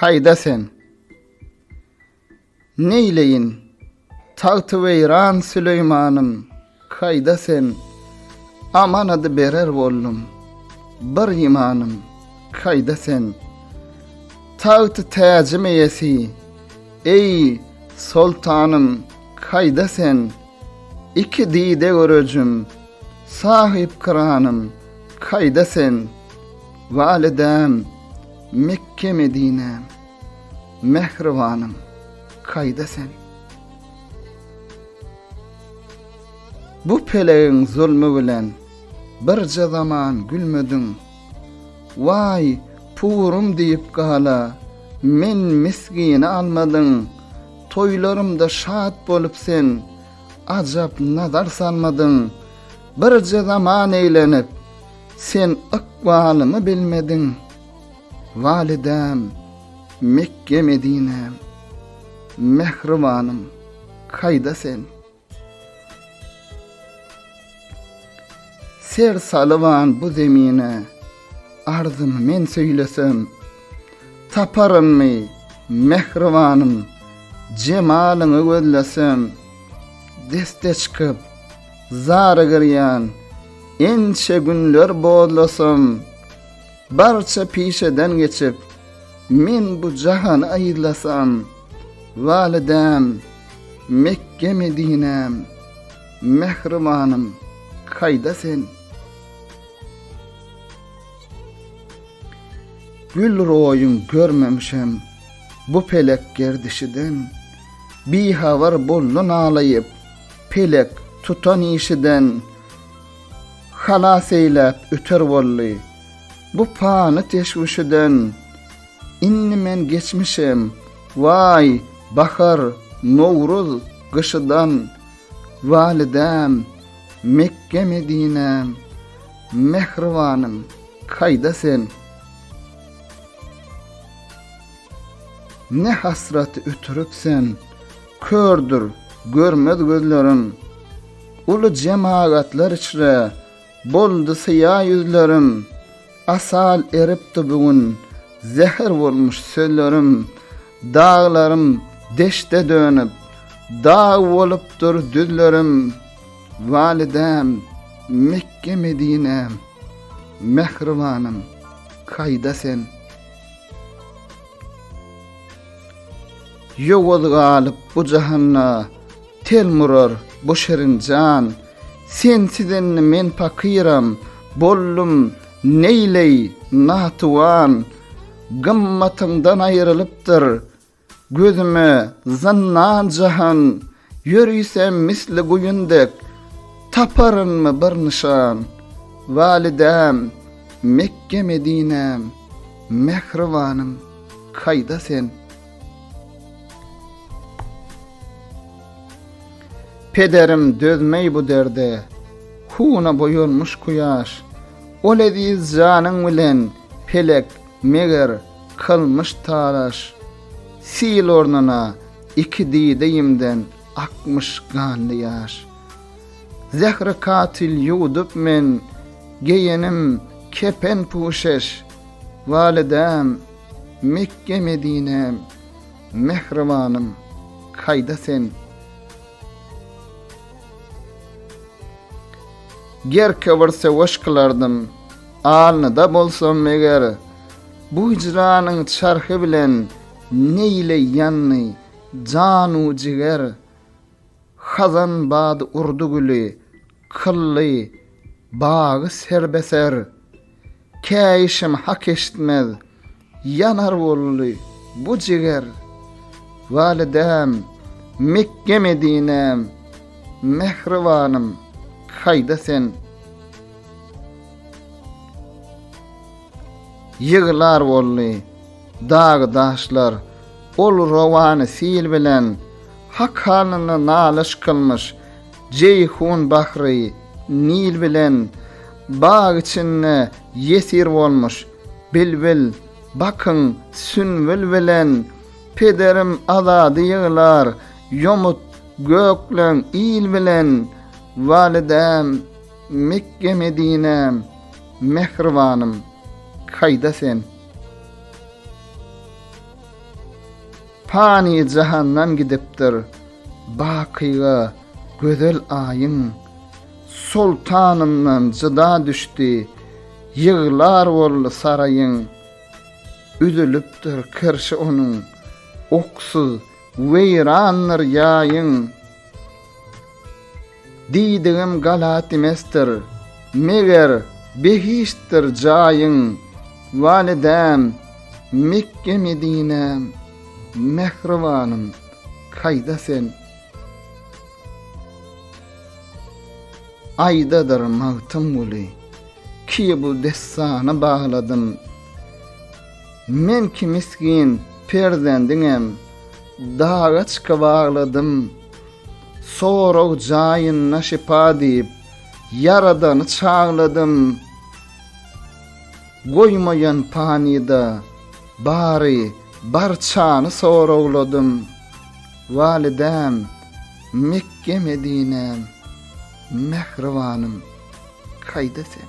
Haýda sen! Neýleýin, tagtyweýran Süleýmanym, haýda sen! Amanady berer boldum, bir imanym, haýda sen! Tagty-täjim eýesi, eý, soltanym, haýda sen! Iki dide görejim, sahypkyranym, kaýda sen, Walidäm, Mekge-Medinäm, mähribanym, kaýda sen? Bu pelegiň zulmy bilen birje zaman gülmediň. Waý, purum diýip gala, men misgini almadyň, toýlarymda şat bolup sen, ajap nazar salmadyň, birje zaman eýlenip, sen ykbalymy bilmediň. Walidäm, Mekge-Medinäm, mähribanym, kaýda sen? Ser salyban bu zemine, Arzymy men söýlesem, Taparynmy, mähribanym, Jemalyňy gözlesem? Deste çykyp, zary girýän, Ençe günler bozlasam. Barça pişeden geçip, men bu jahany aýyzlasam, Walidäm, Mekge-Medinäm, mähribanym, kaýda sen? Gül roýuň görmemişem bu pelek gerdişiden, Bihabar boldy nalaýyp, pelek tutan işiden. Halas eýläp öter boldy. Bu pany teşwüşiden Indi men geçmişem, Waý, bahar, nowruz, gyşydan, Walidäm, Mekge-Medinäm, Mähribanym, kaýda sen? Ne hasraty ötürip sen, Kördür görmez gözlerim. Uly jemagatlar içre. Boldy syýa ýüzlerim. Asal eripdi bu gün. Zäher bolmuş sözlerim. Daglarym deşde dönüp. Dag bolupdyr düzlerim. Walidäm, Mekge-Medinäm. Mähribanym, kaýda sen? Ýowuz galyp bu jahanda, Tel murar bu şirin jan. Sensiz indi men pakyram, Boldum neýleý natuwan. Gymmatyňdan aýrylypdyr, Gözüme zyndan jahan. Ýörisem misli guýun dek, Taparynmy bir nyşan? Walidäm, Mekge-Medinäm, Mähribanym, kaýda sen? Pederim dözmeý bu derde, Huna boýalmyş kuýaş. Ol eziz janyň bilen, Pelek, meger, kylmyş talaş. Sil ornuna, Iki dideýimden akmyş ganly ýaş. Zähri katyl ýuwudyp men, geýenim kepen-puşeş. Walidäm, Mekge-Medinäm, mähribanym, kaýda sen? Gerke bir söweş kylardym, alnyda bolsam eger, bu hijranyň çarhy bilen Neýleýänmi, janu jiger? Hazan bad urdy güli, kylly, bagy serbeser. Käýişim hak eşitmez, ýanar boldy bu jiger. Walidäm, Mekge-Medinäm, mähribanym, haýda sen. Ýyglar boldy. Dag-daşlar ol rowany sil bilen Hak halyna nalyş kylmyş, Jeýhun bahry Nil bilen Bag içinde ýesir bolmuş. Bilbil, bakyň, sünbül bilen Pederim Azady ýyglar, Ýomut, gökleň, il bilen Walidäm, Mekge-Medinäm, mähribanym, kaýda sen? Pany jahandan gidipdir bakyga gözel aýyň, Soltanyndan jyda düşdi, ýyglar boldy saraýyň. Üzülipdir kirşi onuň, oksuz, weýrandyr ýaýyň. Diýdigim galat emesdir, meger, behiştdir jaýyň, Walidäm, Mekge-Medinäm, mähribanym, kaýda sen? Aýdadyr Magtymguly, ki bu dessany bagladym. Men ki misgin perzendiňem daga çykyp agladym. Sorag jaýynda şypa diýip, Ýaradany çagladym. Goýmaýan panyda, bary, barçany soragladym. Walidäm, Mekge-Medinäm, mähribanym, haýda sen.